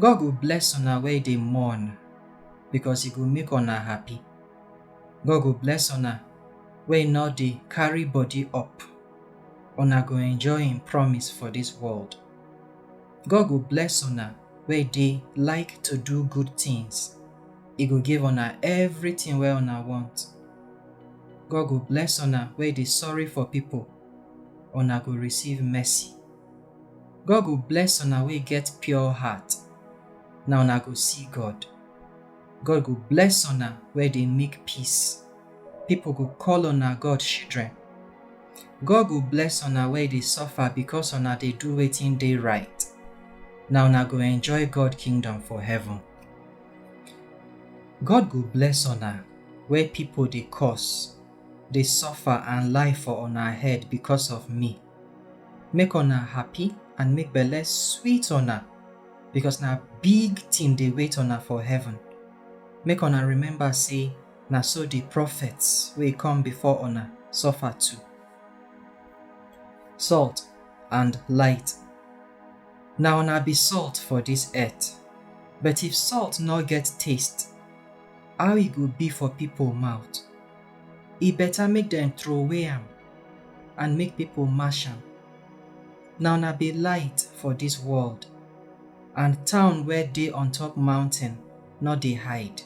God go bless una wey dey mourn, because e go make una happy. God go bless una wey no dey carry body up, una go enjoy im promise for dis world. God go bless una wey dey like to do good things, e go give una everything wey una want. God go bless una wey dey sorry for people, una go receive mercy. God go bless una wey get pure heart, na una go see God. God go bless una wey dey make peace, people go call una God children. God go bless una wey dey suffer because una dey do wetin dey right, na una go enjoy God kingdom for heaven. God go bless una wey people dey curse, dey suffer and lie for una head because of me. make una happy and make belle sweet una because na big thing dey wait una for heaven make una remember say na so the prophets wey come before una suffer too salt and light na una be salt for this earth but if salt no get taste how e go be for people mouth e better make dem throway am and make people mash am. Na una be light for this world, and town where dey on top mountain no dey hide.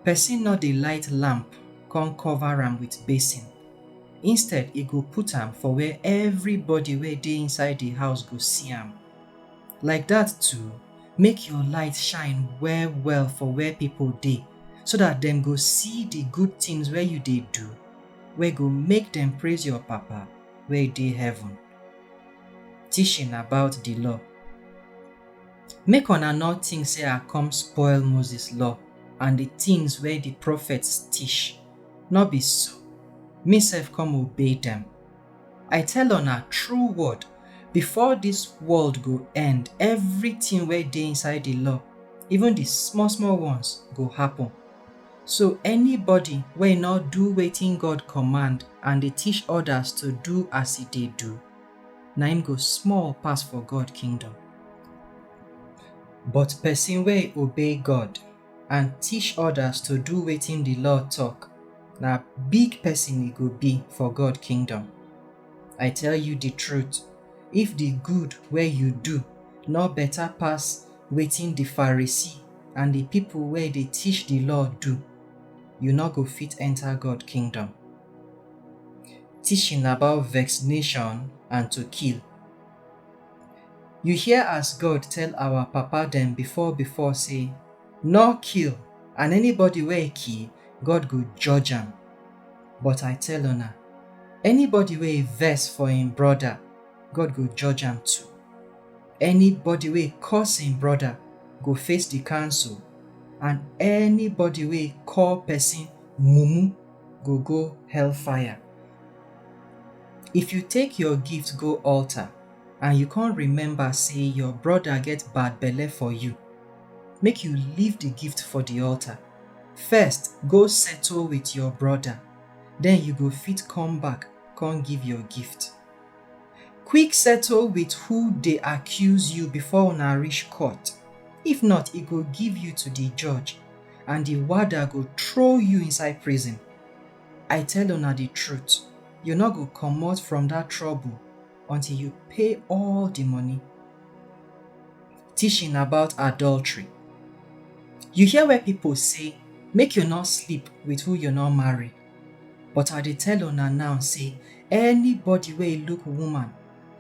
Person no dey light lamp come cover am with basin. Instead, e go put am for where everybody wey dey inside the house go see am. Like that too, make your light shine well well for where people dey, so that dem go see the good things wey you dey do wey go make dem praise your Papa wey dey heaven. Teaching about the law. Make una nor think say I come spoil Moses law and the things wey the prophets teach. Nor be so. Me sef come obey dem. I tell una true word, before this world go end, everything wey dey inside the law, even the small small ones, go happen. So anybody wey no do wetin God command and dey teach others to do as e dey do, na im go small pass for God kingdom. But person wey obey God and teach others to do wetin the law talk, na big person e go be for God kingdom. I tell you the truth, if the good wey you do no better pass wetin di Pharisee and di pipo wey dey teach di Law do, you nor go fit enta God kingdom. Teaching about vexnation and to kill. You hear as God tell awa papa dem before before sey, Nor kill, and anybody wey kill, God go judge am. But I tell una, anybody wey vex for im broda, God go judge am too. Anybody wey curse im brother go face the council and anybody wey call person mumu go go hellfire. If you take your gift go altar and you come remember say your brother get bad belle for you, make you leave the gift for the altar. First go settle with your brother, then you go fit come back come give your gift. quick settle with who dey accuse you before una reach court if not e go give you to the judge and the warder go throw you inside prison i tell una the truth you no go comot from that trouble until you pay all the money teaching about adultery you hear where people say make you no sleep with who you no marry But I dey tell una now sey anybody wey e look woman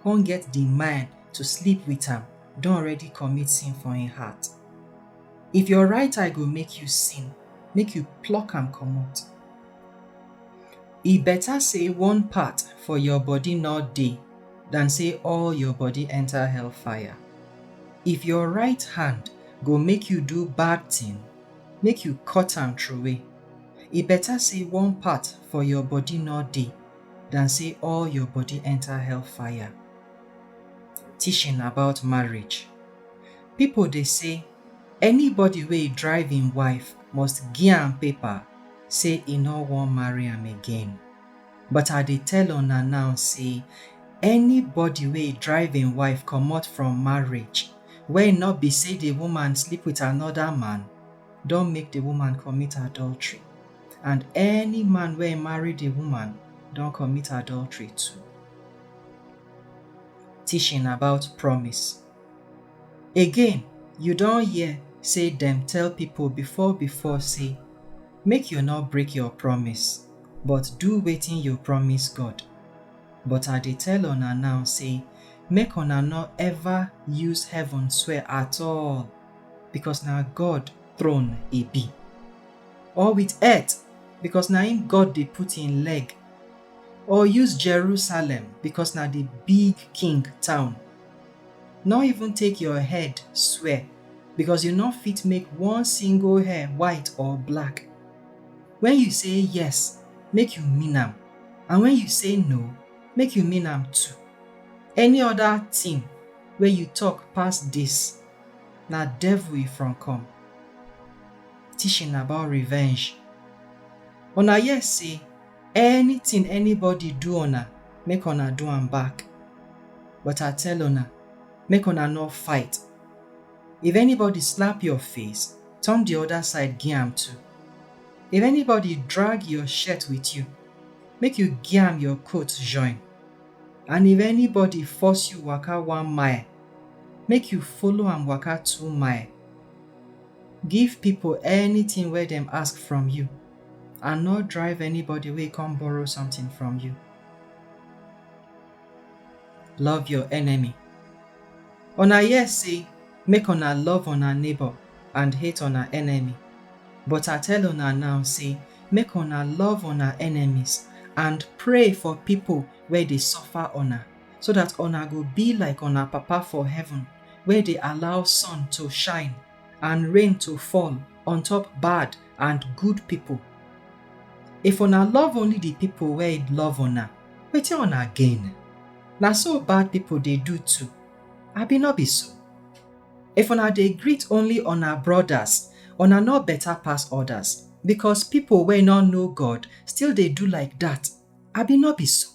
con get di mind to sleep wit am don already commit sin for im heart. If your right eye go make you sin, make you pluck am comot. E beta sey one part for your body nor dey dan sey all your body enter hellfire. If your right hand go make you do bad tin, make you cut am troway. e better say one part for your body no dey than say all your body enter hellfire. Teaching about marriage. People dey say anybody wey drive im wife must gi am paper say e no wan marry am again. But I dey tell una now say anybody wey drive im wife comot from marriage wey no be say the woman sleep with another man, don make di woman commit adultery, and any man wey marry di woman don commit adultery too. Teaching about promise. Again, you don hear say dem tell people before before say, Make you no break your promise, but do wetin you promise God. But I dey tell una now say, make una no ever use heaven swear at all, because na God throne e be, or with earth because na im God dey put im leg, or use Jerusalem because na the big king town. No even take your head swear because you no fit make one single hair white or black. When you say yes, make you mean am, and when you say no, make you mean am too. Any other thing wey you talk pass this, Na devil e from come, teaching about revenge. Una hear sey anything anybody do una, make una do am back. But I tell una, make una no fight. If anybody slap your face, turn the other side give am too. If anybody drag your shirt with you, make you give am your coat join. And if anybody force you waka one mile, make you follow am waka two mile, give people anything wey dem ask from you and no drive anybody wey come borrow something from you. Love your enemy. Una hear say make una love una neighbor and hate una enemy but I tell una now say make una love una enemies and pray for people wey dey suffer una. so dat una go be like una Papa for heaven wey dey allow sun to shine and rain to fall on top bad and good pipo. If una love only di pipo wey love una, wetin una gain? Na so bad pipo dey do too, abi no be so? If una dey greet only una brodas, una no beta pass odas, becos pipo wey no know God still dey do like dat, abi no be so?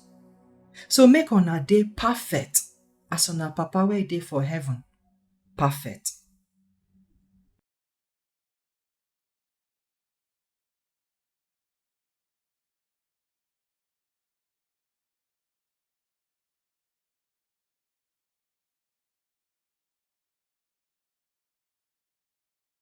so make una dey perfect as una papa wey dey for heaven perfect